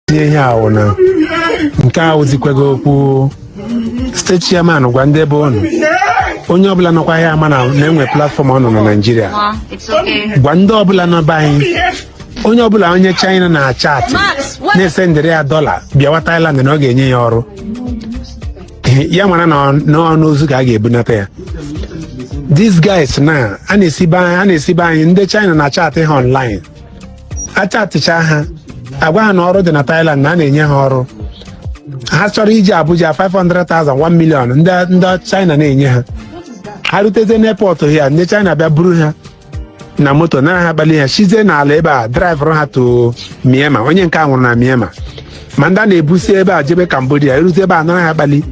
tinye ihe ahụ na nke a awụzikwaghị okwu steeti chairman gwa ndị be ụnụ onye ọbụla nọkwa ya ama na na-enwe platfọm ọnụ na naijiria gwa ndị ọbụla nọ be anyị onye ọbụla onye china na-achatị na-esendịrị ya dọla bịawa thailand na ọ ga-enye ya ọrụ ya mara na ọ- na ọ n'ozu ka a ga-ebunata ya these guys na a na-esi be anyị a na-esi be anyị ndị china na-achatị ha online achatịcha ha agwa ha na ọrụ dị na Thailand na a na-enye ha ọrụ ha chọrọ iji Abuja 500,000 1 million ndị ndị China na-enye ha ha ruteze n'airport ya ndị China bịa buru ha na moto nara ha kpali ha shizie n'ala ebe a draịvụrụ ha to Myanmar onye nke a nwụrụ na Myanmar ma ndị a na-ebu si ebe a jebe Cambodia eruzie ebe a anara ha kpali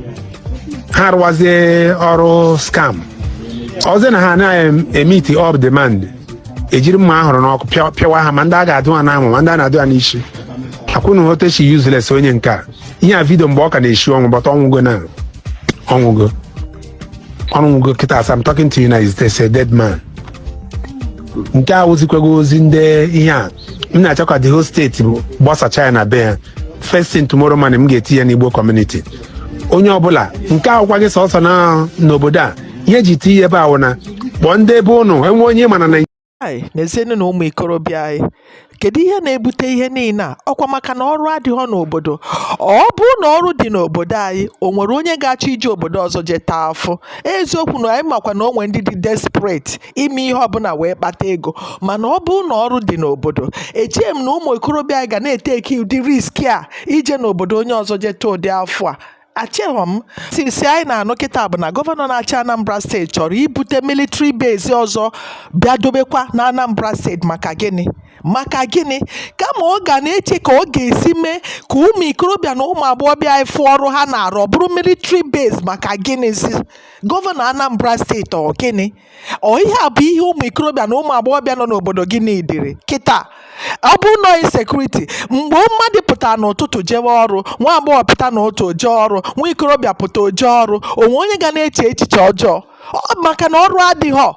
ha rụwazie ọrụ scam ọzọ na ha anaghị emiti up demand ejiri mma ahụrụ n'ọkụ pịa- pịawa ha ma ndị a ga-adụ ha n'amụ ma ndị a na-adụ ha n'isi ka ụnụ hụ otu e shi useless onye nke a ihe a vidio mgbe ọ ka na-eshi ọnwụ but ọ nwụgo na ọ nwụgo ọ nwụgo kịta as I'm talking to you now he's a dead man nke a awụzikwaghị ozi ndị ihe a m na-achọ ka the whole steeti gbasacha ya na be ya first thing tomorrow morning m ga-eti ya n'igbo community onye ọbụla nke a awụkwaghị sọsọ na n'obodo a ihe e ji ti ihe ebe a wụ na kpọọ ndị be ụnụ enwe onye ị ma na nezienụ na ụmụ ikorobịa anyị kedu ihe na-ebute ihe niile a ọkwa maka na ọrụ adịghị n'obodo ọ bụ na ọrụ dị n'obodo anyị o nwere onye ga-achọ ije obodo ọzọ jee taa afụ eziokwu na anyị makwa na o nwe ndị dị desperate ime ihe ọbụla wee kpata ego mana ọ bụ na ọrụ dị n'obodo echeghị m na ụmụ ikorobịa ga na-eteki ụdị riski a ije n'obodo onye ọzọ jee taa ụdị afụ a echeghọ m tisi anyị na-anụ kịta bụ na gọvanọ na-achị anambra steeti chọrọ ibute military base ọzọ bịa dobekwa na anambra steeti maka gịnị maka gịnị kama ọ ga na-eche ka ọ ga-esi mee ka ụmụ ikorobịa na ụmụ agbọghọbịa anyị fụ ọrụ ha na-arụ ọ bụrụ military base maka gịnịzi gọvanọ anambra steeti ọ gịnị ọ ihe a bụ ihe ụmụ ikorobịa na ụmụ agbọghọbịa nọ n'obodo gị niidịrị kịta ọ bụ nọ insecurity mgbe mmadụ pụta n'ụtụtụ jewe ọrụ nwa agbọghọ pụta n'ụtụtụ o je ọrụ nwa ikorobịa pụta o je ọrụ o nwe onye ga na-eche echiche ọjọọ maka na ọrụ adịghọ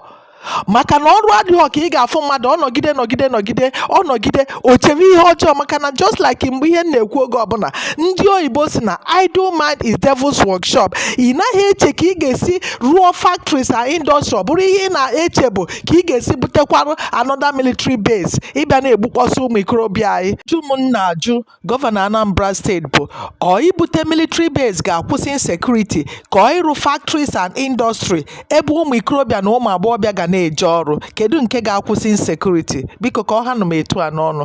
maka na ọrụ adịghọ ka ị ga-afụ mmadụ ọ nọgide nọgide nọgide ọ nọgide o chere ihe ọjọọ maka na just like em ihe m na-ekwu oge ọbụla ndị oyibo si na idle mind is devil's workshop ị naghị eche ka ị ga-esi rụọ factories and industry ọ bụrụ ihe ị na-eche bụ ka ị ga-esi butekwarụ another military base ị bịa na-egbukpọsị ụmụ ikorobịa anyị ajụjụ m na-ajụ gọvanọ anambra steeti bụ ọ ibute military base ga-akwụsị insecurity ka ọ ịrụ factories and industry ebe ụmụ ikorobịa na ụmụ agbọghọbịa ga na-eje ọrụ kedu nke ga-akwụsị insecurity biko ka ọ ha nụ m etu a n'ọnụ